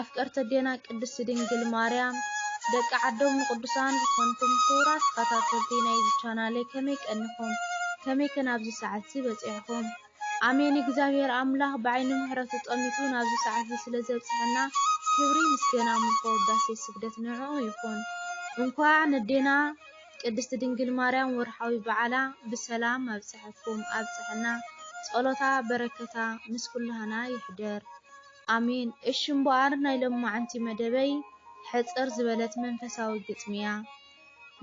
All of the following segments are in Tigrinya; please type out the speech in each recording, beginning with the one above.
ኣፍቀርቲ ኣዴና ቅድስቲ ድንግል ማርያም ደቂ ዓዶም ንቅዱሳን ዝኾንኩም ክቡራት ተኸታተልቲ ናይዚ ቻናለይ ከመይ ቀኒኹም? ከመይ ከ ናብዚ ሰዓት እዚ በፂዕኹም? ኣሜን እግዚኣብሔር ኣምላኽ ብዓይኒ ምሕረቱ ጠሚቱ ናብዚ ሰዓት እዚ ስለ ዘብፅሐና ክብሪ ምስገና ምልኮ ውዳሴ ስግደት ንዕኡ ይኹን። እንኳዕ ነዴና ቅድስቲ ድንግል ማርያም ወርሓዊ በዓላ ብሰላም ኣብፀሐኩም ኣብፀሐና። ፀሎታ በረከታ ምስ ኩላህና ይሕደር። ኣሜን እሺ እምበኣር ናይ ሎማዓንቲ መደበይ ሕጽር ዝበለት መንፈሳዊ ግጥሚ እያ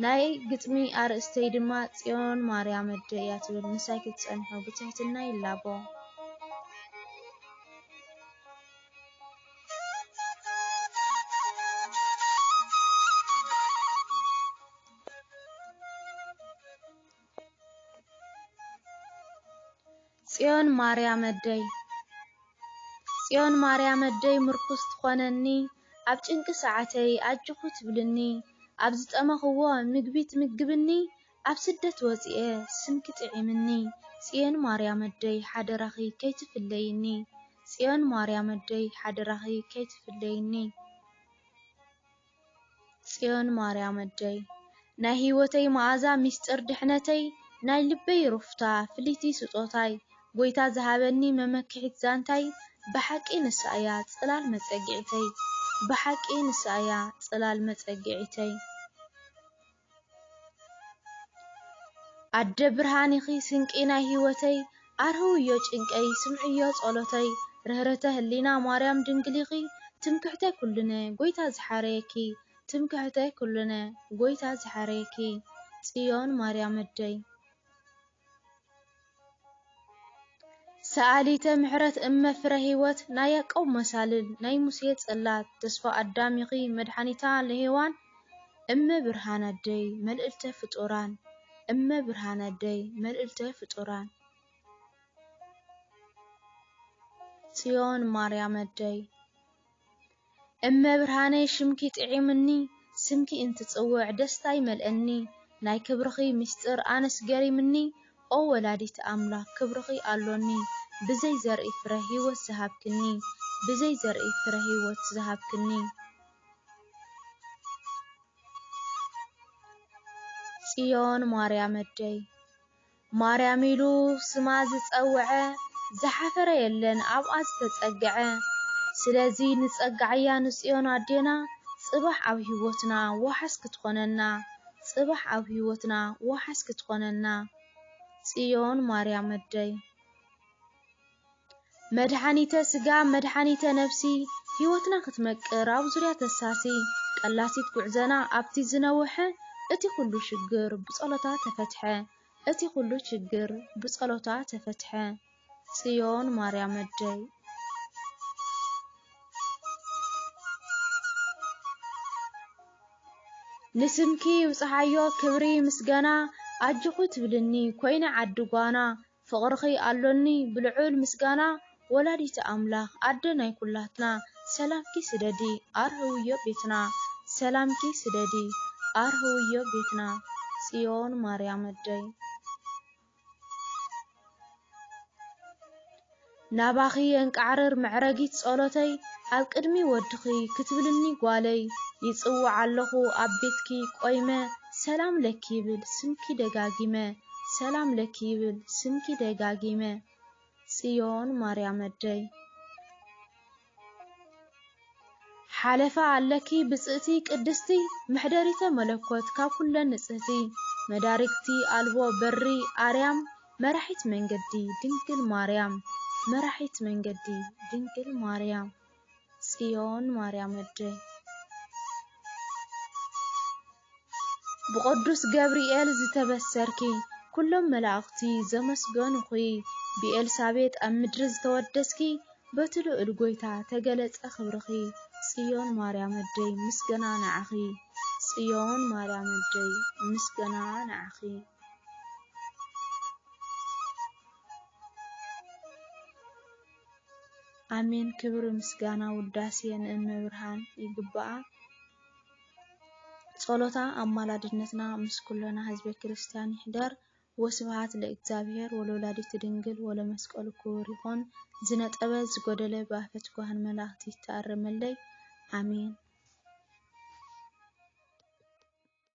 ናይ ግጥሚ ኣርእስተይ ድማ ጽዮን ማርያም ኣደ እያ ትብል ምሳይ ክትጸንሑ ብትሕትና ይላቦ ጽዮን ማርያመደይ ጽዮን ማርያመደይ ምርኩስ ትኾነኒ ኣብ ጭንቂ ሰዓተይ ኣጆኹ ትብልኒ ኣብ ዝጠመኽዎ ምግቢ ትምግብኒ ኣብ ስደት ወጺኤ ስምኪ ጥዒምኒ ጽዮን ማርያመደይ ሓደራኺ ከይትፍለይኒ ጽዮን ማርያመደይ ሓደራኺ ከይትፍለይኒ ጽዮን ማርያም ኣደይ ናይ ህይወተይ መኣዛ ሚስጥር ድሕነተይ ናይ ልበይ ሩፍታ ፍልይቲ ስጦታይ ጎይታ ዝሃበኒ መመክሒት ዛንታይ ብሓቂ ንሳ እያ ጽላል መጸግዒተይ ብሓቂ ንሳ እያ ጽላል መጸግዒተይ ኣደ ብርሃን ኢኺ ስንቂ ናይ ሂወተይ ኣርህውዮ ጭንቀይ ስምዕዮ ጸሎተይ ርህርህተ ህሊና ማርያም ድንግል ኢኺ ትምክሕተይ ኩሉነ ጎይታ ዝሓረየኪ ትምክሕተይ ኩሉነ ጎይታ ዝሓረየኪ ጽዮን ማርያም ኣደይ ሰኣሊተ ምሕረት እመ ፍረህይወት ናይ ያቆብ መሳልል ናይ ሙሴ ጽላት ተስፋ ኣዳም ኢኺ መድሓኒታ ለሄዋን እመ ብርሃን ኣደይ መልእልተ ፍጡራን እመ ብርሃን ኣደይ መልእልተ ፍጡራን ጽዮን ማርያም ኣደይ እመብርሃነይ ሽምኪ ጥዒሙኒ ስምኪ እንትጽውዕ ደስታ ይመልኣኒ ናይ ክብርኺ ምስጢር ኣነስ ገሪምኒ ኦ ወላዲተ ኣምላክ ክብርኺ ኣሎኒ ብዘይ ዘርኢ ፍረ ሂወት ዝሃብክኒ ብዘይ ዘርኢ ፍረ ሂወት ዝሃብክኒ ጽዮን ማርያም ኣደይ ማርያም ኢሉ ስማ ዝጸወዐ ዝሓፈረ የለን ኣብኣ ዝተጸገዐ ስለዚ ንጸግዓያ ንጽዮን ኣዴና ጽባሕ ኣብ ሂወትና ዋሕስ ክትኾነና ጽባሕ ኣብ ሂወትና ዋሕስ ክትኾነና ጽዮን ማርያመደይ። መድሓኒተ ስጋ መድሓኒተ ነብሲ ሂወትና ክትመቅር ኣብ ዙርያ ተሳሲ ቀላሲት ጉዕዘና ኣብቲ ዝነውሐ እቲ ኩሉ ሽግር ብጸሎታ ተፈትሐ እቲ ኩሉ ሽግር ብጸሎታ ተፈትሐ ጽዮን ማርያም ኣደይ ንስምኪ ይብጽሓዮ ክብሪ ምስገና ኣጆኹ ትብልኒ ኮይነ ዓዲ ጓና ፍቅርኺ ኣሎኒ ብልዑል ምስጋና ወላዲተ ኣምላኽ ኣደ ናይ ኩላትና ሰላምኪ ስደዲ ኣርህውዮ ቤትና ሰላምኪ ስደዲ ኣርህውዮ ቤትና ጽዮን ማርያም ኣደይ። ናባኺ የንቃዕርር መዕረጊት ጸሎተይ ኣብ ቅድሚ ወድኺ ክትብልኒ ጓለይ ይጽውዕ ኣለኹ ኣብ ቤትኪ ቆይመ ሰላም ለኪ ይብል ስምኪ ደጋጊመ ሰላም ለኪ ይብል ስምኪ ደጋጊመ ጽዮን ማርያም ኣደይ ሓለፋ ኣለኪ ብጽእቲ ቅድስቲ መሕደሪተ መለኮት ካብ ኩለን ንጽህቲ መዳርግቲ ኣልቦ በሪ ኣርያም መራሒት መንገዲ ድንግል ማርያም መራሒት መንገዲ ድንግል ማርያም ጽዮን ማርያም ኣደይ ብቅዱስ ገብርኤል ዝተበሰርኪ ኩሎም መላእኽቲ ዘመስገኑኺ ብኤልሳቤጥ ኣብ ምድሪ ዝተወደስኪ በቲ ልዑል ጎይታ ተገለጸ ክብርኺ ጽዮን ማርያም ኣደይ ምስገና ንዓኺ ጽዮን ማርያም ኣደይ ምስገና ንዓኺ ኣሜን ክብሪ ምስጋና ውዳሴ ንእመብርሃን ይግብኣ። ጸሎታ ኣማላድነትና ምስ ኩሎና ህዝበ ክርስትያን ይሕደር ወስብሃት ለእግዚኣብሔር ወለወላዲቱ ድንግል ወለመስቀሉ ክቡር ይኹን ዝነጠበ ዝጎደለ ብኣፈ ትጉሃን መላእክት ይተኣረመለይ ኣሜን።